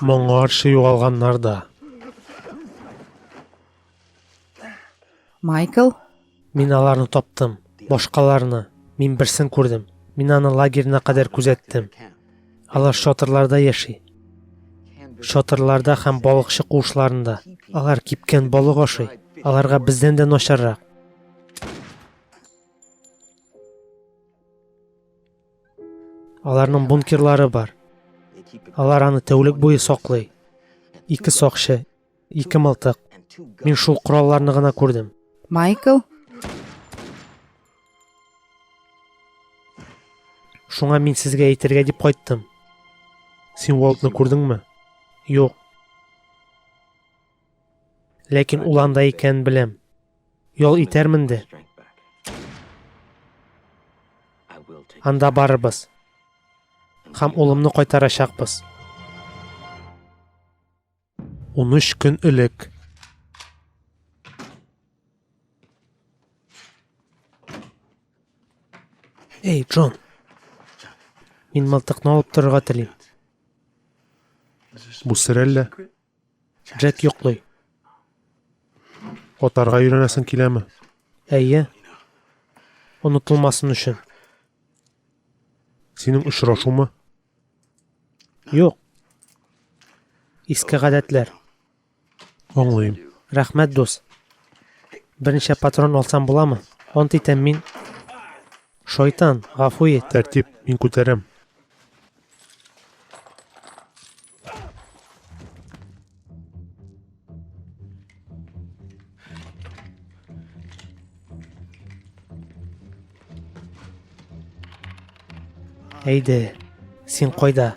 Моңарчы югалганнар да. Майкл? Мин аларны таптым. Башкаларны. Мин берсен күрдем. Мин аны лагерьна кадәр күзәттем. Алар шатырларда яши. Шатырларда һәм балыкчы куышларында. Алар кипкән балык ашый. Аларга бездән дә начаррак. Аларның бункерлары бар. Алар аны тәүлек буе саклый. Ике сакчы, ике мылтык. Мин шул коралларны гына күрдем. Майкл? Шуңа мин сезгә әйтергә дип кайттым. Син Уолтны күрдеңме? Юк. Ләкин ул анда икәнен беләм. Ял итәрмен дә. Анда барырбыз. Һәм улымны кайтарачакбыз. 13 көн элек Эй, Джон. Мин мылтыкны алып торырга телим. Бу сер әллә? Джек йоклый. Атарга өйрәнәсең киләме? Әйе. Онытылмасын өчен. Синең очрашумы? Юк. Иске гадәтләр. Аңлыйм. Рәхмәт, дус. Берничә патрон алсам буламы? Ант итәм мин. Шайтан, гафу ит. Тәртип, мин күтәрәм. Әйде, син кайда?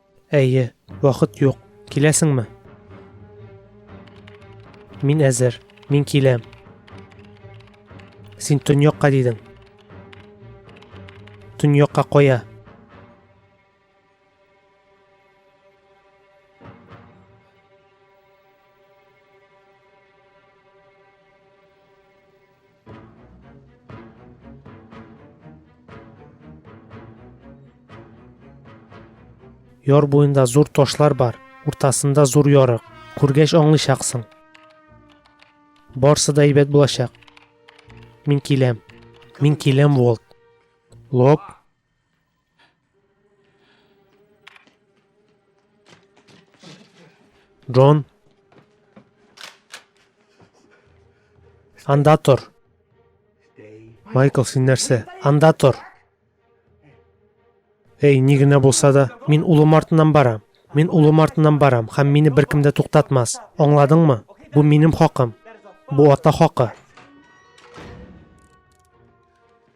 Әйе, вакыт юк. Киләсеңме? Мин әзер. Мин киләм. Син төньякка дидең. Төньякка кая? Яр буенда зур ташлар бар, уртасында зур ярык. Күргәч аңлыйчаксың. Барсы да әйбәт булачак. Мин киләм. Мин киләм, Волт. Лоп. Джон. Анда тор. Майкл, син нәрсә? Анда тор. Эй, ни генә булса да, мин улым артыннан барам. Мин улым артыннан барам, һәм мине беркем дә туктатмас. Аңладыңмы? Бу минем хакым. Бу ата хакы.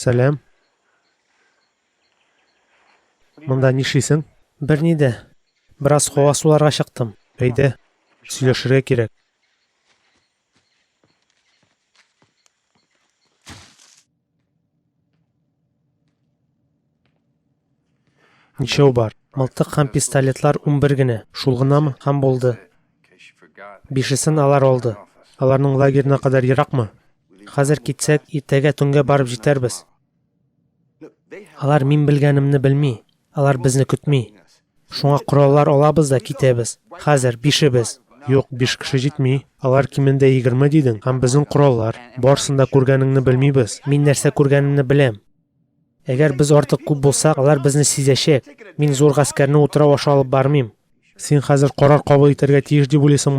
Сәләм. Монда нишлисең? Берни дә. Бераз һава суларга чыктым. Әйдә, сөйләшергә кирәк. Ничәү бар? Мылтык һәм пистолетлар унбер генә. Шул гынамы? Һәм булды. Бишесен алар алды. Аларның лагерына кадәр еракмы? Хәзер китсәк, иртәгә төнгә барып җитәрбез. Алар мин белгәнемне белми, алар безне көтми. Шуңа кораллар алабыз да китәбез. Хәзер бишебез. Юк, биш кеше җитми. Алар кимендә егерме дидең, һәм безнең кораллар. Барысын да күргәнеңне белмибез. Мин нәрсә күргәнемне беләм. Әгәр без артык күп булсак, алар безне сизәчәк. Мин зур гаскәрне утрау аша алып бармыйм. Син хәзер карар кабул итәргә тиеш дип уйлыйсыңмы?